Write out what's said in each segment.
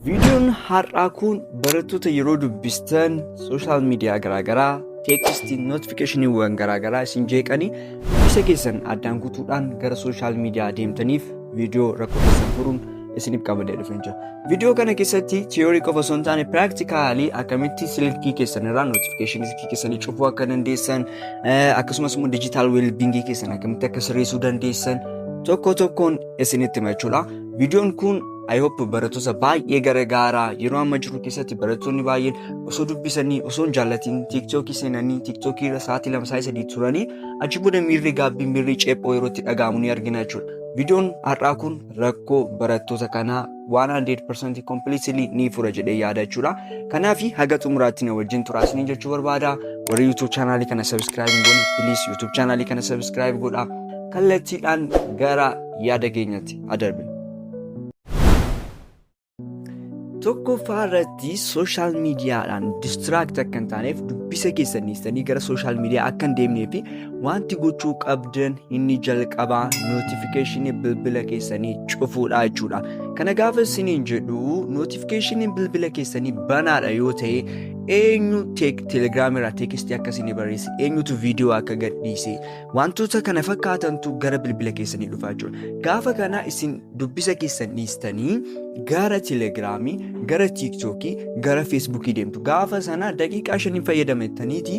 Viidiyoon har'aa kun barattoota yeroo dubbistan sooshaal miidiyaa garaagaraa teeksistii notifikashiniiwwan garaagaraa isin jeeqanii dubbisa keessan addaan kutuudhaan gara sooshaal miidiyaa deemtaniif viidiyoo rakkoo keessan furuun isiniif qabadee dhufee jira. Viidiyoo kana keessatti tiyoorii qofa osoo hin taane piraaktikaalii akkamitti silkii keessan irraa notifikashinii silkii keessanii cufuu akka dandeessan akkasumas immoo dijitaal weelbingii keessan akkamitti akka sirreessuu dandeessan tokko tokkoon isinitti himachuudha. Viidiyoon kun I hope barattoota baay'ee garagaaraa yeroo amma jiru keessatti barattoonni baay'een osoo dubbisanii osoo hin jaallatiin tiiktookii seenanii tiiktookii irra sa'aatii lama sa'aatii sadii turanii achi booda miirri gaabbii miirri ceephoo yeroo itti dhaga'amu ni argina jechuudha. Viidiyoon har'aa kun rakkoo barattoota kanaa 100% completely ni fura jedhee yaada jechuudha. Kanaaf haga xumuraatti na wajjin turaa isiniin jechuu barbaada. Warri YouTube chaanaalii kana subscribe hin goone please YouTube chaanaalii kana subscribe godhaa. Kallattiidhaan gara yaada keenyatti adarbina. tokkoffaa irratti sooshaal miidiyaadhaan distiraakti akka hin taaneef dubbisa keessan dhiistanii gara sooshaal miidiyaa akka hin deemnee fi wanti gochuu qabdan inni jalqabaa nootifikeeshinii bilbila keessanii cufuudha jechuudha. Kana gaafa isiniin jedhu nootifikeeshiniin bilbila keessanii banaadha yoo ta'e eenyu telegiraamii irraa teekistii akka isinii barreesse eenyutu viidiyoo akka gadhiise Wantoota kana fakkaatantu gara bilbila keessanii dhufaa jechuudha. Gaafa kana isin dubbisa keessan dhiistanii gara telegiraamii, gara tiiktookii, gara feesbuukii deemtu. Gaafa sana daqiiqaa shanii fayyadamataniiti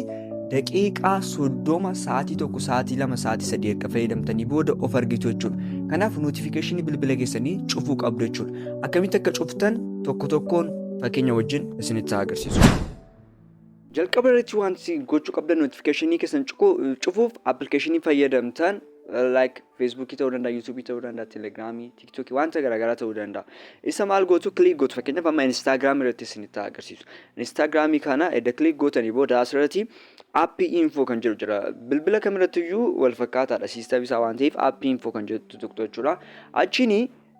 daqiiqaa soddoma sa'aatii tokko sa'aatii lama sa'aatii sadii erga fayyadamtanii booda of argitu jechuudha. Kanaaf nootifikeeshinii bilbila keessanii cufuu qabdu jechuudha. Akkamitti akka cuftan tokko tokkoon fakkeenya wajjin isinitti agarsiisu. Jalqaba irratti wanti gochuu qabdan notification keessan cufuuf application fayyadamtan like Facebook ta'uu danda'a, YouTube ta'uu danda'a, Telegram, TikTok wanta garaagaraa ta'uu danda'a. Isa maal gootu click gootu fakkeenyaaf amma Instagram irratti isinitti agarsiisu. Instagram kana edda click gootanii booda asirratti app info kan jedhu jira. Bilbila kamirratti iyyuu wal fakkaataadha system isaa waan ta'eef app info kan jedhu tuqxu jechuudha. Achiin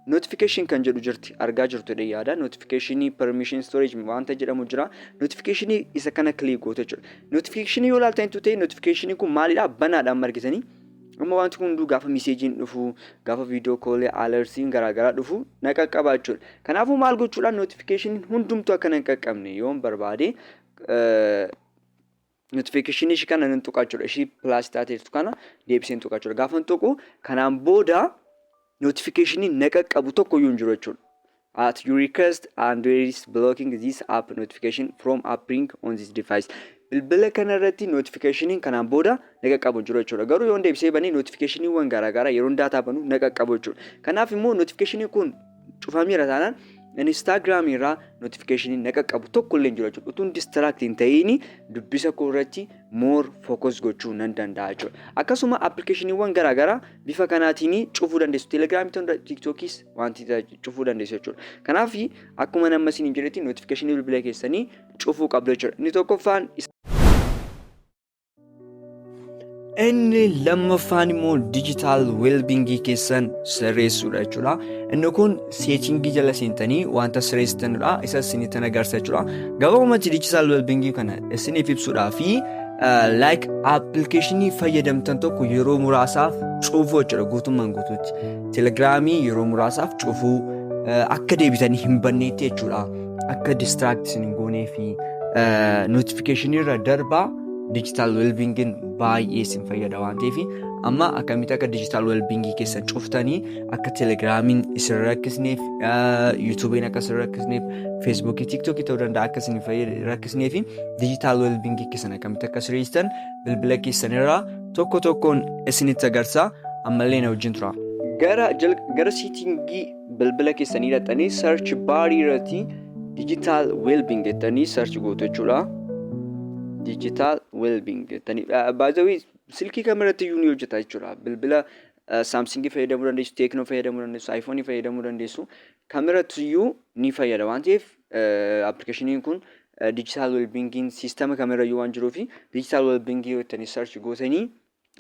Notification kan jedhu jirti argaa jirtu jedhee yaada. Notification, permission, storage wanta jedhamu jira. Notification isa kana click goote jechuudha. Notification yoo ilaaltan ta'e notification kun maalidha? Banaadha amma argitanii. Amma wanti kun hunduu gaafa miseejiin dhufu, gaafa viidiyoo koolee alertiin garaagaraa dhufu na qaqqaba jechuudha. Kanaafuu maal gochuudhaan notification hundumtuu akka na hin qaqqabne yoon barbaade notification ishii kana nan tuqa jechuudha. Ishii plus taatee jirtu kana deebiseen tuqa jechuudha. Gaafan tuqu kanaan booda notification na qaqqabu tokko iyyuu hin jiru jechuudha. At your request Android is blocking this app notification from appearing on this device. Bilbila kana irratti notification kanaan booda na qaqqabu hin jiru jechuudha. Garuu yoon deebisee bane notification waan garaagaraa yeroon daataa banu na qaqqabu jechuudha. Kanaaf immoo notification kun cufameera taanaan Instagram irraa notification na qaqqabu tokko illee hin jiru jechuudha. Utuun distract hin ta'iin dubbisa koo irratti more focus gochuu nan danda'a jechuudha. Akkasuma appilikeeshiniiwwan garaa garaa bifa kanaatiin cufuu dandeessu. Telegiraamii ta'uu danda'a, TikTokis wanti cufuu dandeessu jechuudha. Kanaaf akkuma nama isin hin jedhetti notification bilbila keessanii cufuu qabdu jechuudha. Inni tokkoffaan Inni lammaffaan immoo digital wellbeingii keessan sirreessuudha jechuudha. Inni kun seetingii jala seentanii wanta sirreessitanidha. Isa isinitti agarsiisa jechuudha. Gabaabumatti digital wellbeingii kana isiniif ibsuudhaa fi like appilikeeshinii fayyadamtan tokko yeroo muraasaaf cufuu jechuudha guutummaan guutuutti. Telegiraamii yeroo muraasaaf cufuu akka deebitanii hin banneetti jechuudha. akka distract isin hin goonee fi notification irra darbaa digital wellbeingin baay'ee isin fayyada waan ta'eef amma akkamitti akka digital wellbeingii keessan cuftanii akka telegiraamiin isin rakkisneef yuutuubiin akka isin rakkisneef feesbuukii tiiktookii ta'uu danda'a akka isin rakkisneef digital wellbeingii keessan akkamitti akka sirreessitan bilbila keessanirraa tokko tokkoon isinitti agarsiisa ammallee na wajjin tura. Gara, gara siitingii bilbila keessanii dhaxanii search baarii irratti digital wellbeing jettanii search gootu jechuudha. Digital wellbeing jettanii baay'ee silkii kamirratti iyyuu ni hojjeta jechuudha. Bilbila saamsingii fayyadamuu dandeessu, teeknoo fayyadamuu dandeessu, aayifoonii fayyadamuu dandeessu kamirratti iyyuu ni fayyada waan ta'eef appilikeeshiniin kun digital wellbeingiin siistama kamirayyuu waan jiruuf digital wellbeingii jettanii search gootanii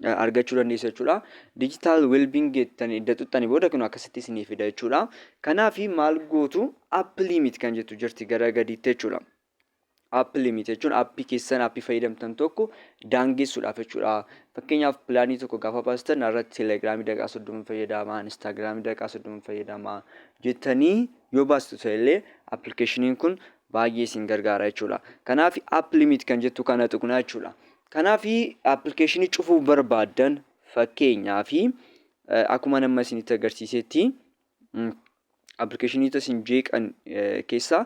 argachuu dandeessu jechuudha. Digital Wellbeing jettan edda tuttani booda kun akkasitti isinii fida jechuudha. Kanaaf maal gootu app limit kan jettu jirti gara gadiitti jechuudha. App limit jechuun appii keessan appii fayyadamtan tokko daangessuudhaaf jechuudha. Fakkeenyaaf pilaanii tokko gaafa baastan irratti telegiraamii daqiiqaa soddoma fayyadama, instaagiraamii daqiiqaa soddoma fayyadama jettanii yoo baastu ta'ellee appilikeeshiniin kun baay'ee isin gargaara jechuudha. Kanaaf app limit kan jettu kana tuqna jechuudha. Kanaaf application cufuu barbaaddan fakkeenyaaf akkuman amma isinitti agarsiisetti appilikeeshiniita isin jeeqan keessaa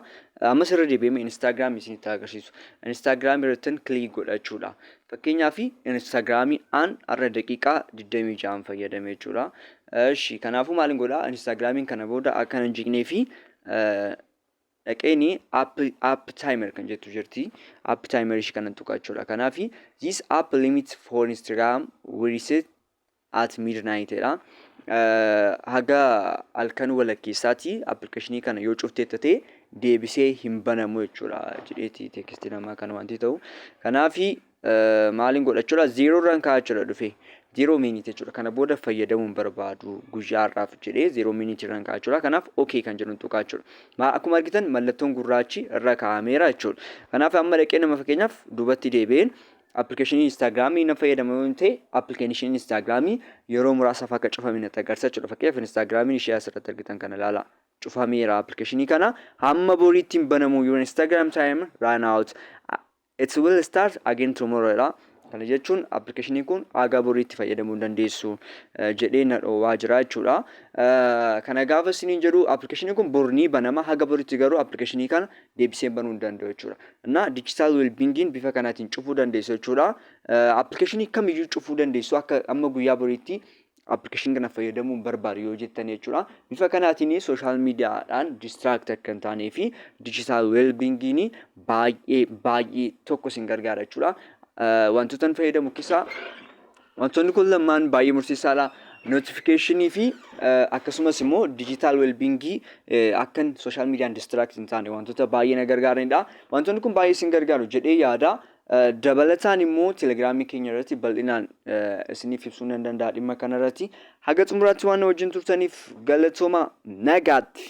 ammas irra deebi'ee Instagram isinitti agarsiisu. Instagram irrattin kilik godhachuudha. Fakkeenyaaf Instagram an har'a daqiiqaa 26 fayyadame jechuudha. Ishi kanaafuu maalin godhaa Instagramiin kana booda akka hin jeeqnee fi dhaqeeni app app timer kan jettu jirti app timer ishii kanan tuqa jechuudha kanaafi this app limit for instagram we reset at midnight jedha haga halkan walakkeessaati appilikeeshinii kana yoo cuftee tatee deebisee hin banamu jechuudha jedheeti teekistii namaa kan wanti ta'u kanaafi Maaliin godha jechuudha? Zeeroo irraan ka'a jechuudha dhufee. Zeeroo miiniitii jechuudha. Kana booda fayyadamuun barbaadu guyyaa har'aaf jedhee zeeroo miiniitii irraan ka'a jechuudha. Kanaaf OK kan jedhuun tuqaa jechuudha. Maa akkuma argitan mallattoon gurraachi irra kaa'ameera jechuudha. Kanaaf amma dhaqee nama fakkeenyaaf duubatti deebi'een appilikeeshinii Instaagiraamii nan fayyadama yoo ta'e appilikeeshinii Instaagiraamii yeroo muraasaaf akka cufame natti agarsiisa jechuudha. Fakkeenyaaf Instaagiraamiin ishee asirratti argitan kana ilaalaa. cufameera appilikeeshinii kana hamma boriitti hin banamu your Instagram time run out It will start again tomorrow jedha. Kana jechuun appilikeeshiniin kun haga boriitti fayyadamuu hin dandeessu jedhee na dhoowwaa jira jechuudha. Kana gaafa isiniin jedhu appilikeeshiniin kun bor ni banama haga boriitti garuu appilikeeshinii kana deebiseen banuu hin danda'u jechuudha. Innaa digital well-beingin bifa kanaatiin cufuu dandeessu jechuudha. Appilikeeshinii kamiyyuu cufuu dandeessu akka amma guyyaa boriitti application kana fayyadamuun barbaadu yoo jettan jechuudha. Bifa kanaatiin sooshaal miidiyaadhaan distract akka hin taanee fi digital wellbeingiin baay'ee baay'ee tokko isin gargaara jechuudha. Eh, Wantoota inni fayyadamu keessaa wantoonni kun lamaan baay'ee murteessaadha. Notification fi eh, akkasumas immoo digital wellbingii akkan sooshaal miidiyaan distract hin taane wantoota baay'ee na gargaaranidha. Wantoonni kun baay'ee isin gargaaru jedhee yaada. Dabalataan immoo telegiraamii keenya irratti bal'inaan isiniif ibsuun nan danda'a dhimma kana irratti. Haga xumuraatti waan na wajjin turtaniif galatooma nagaatti.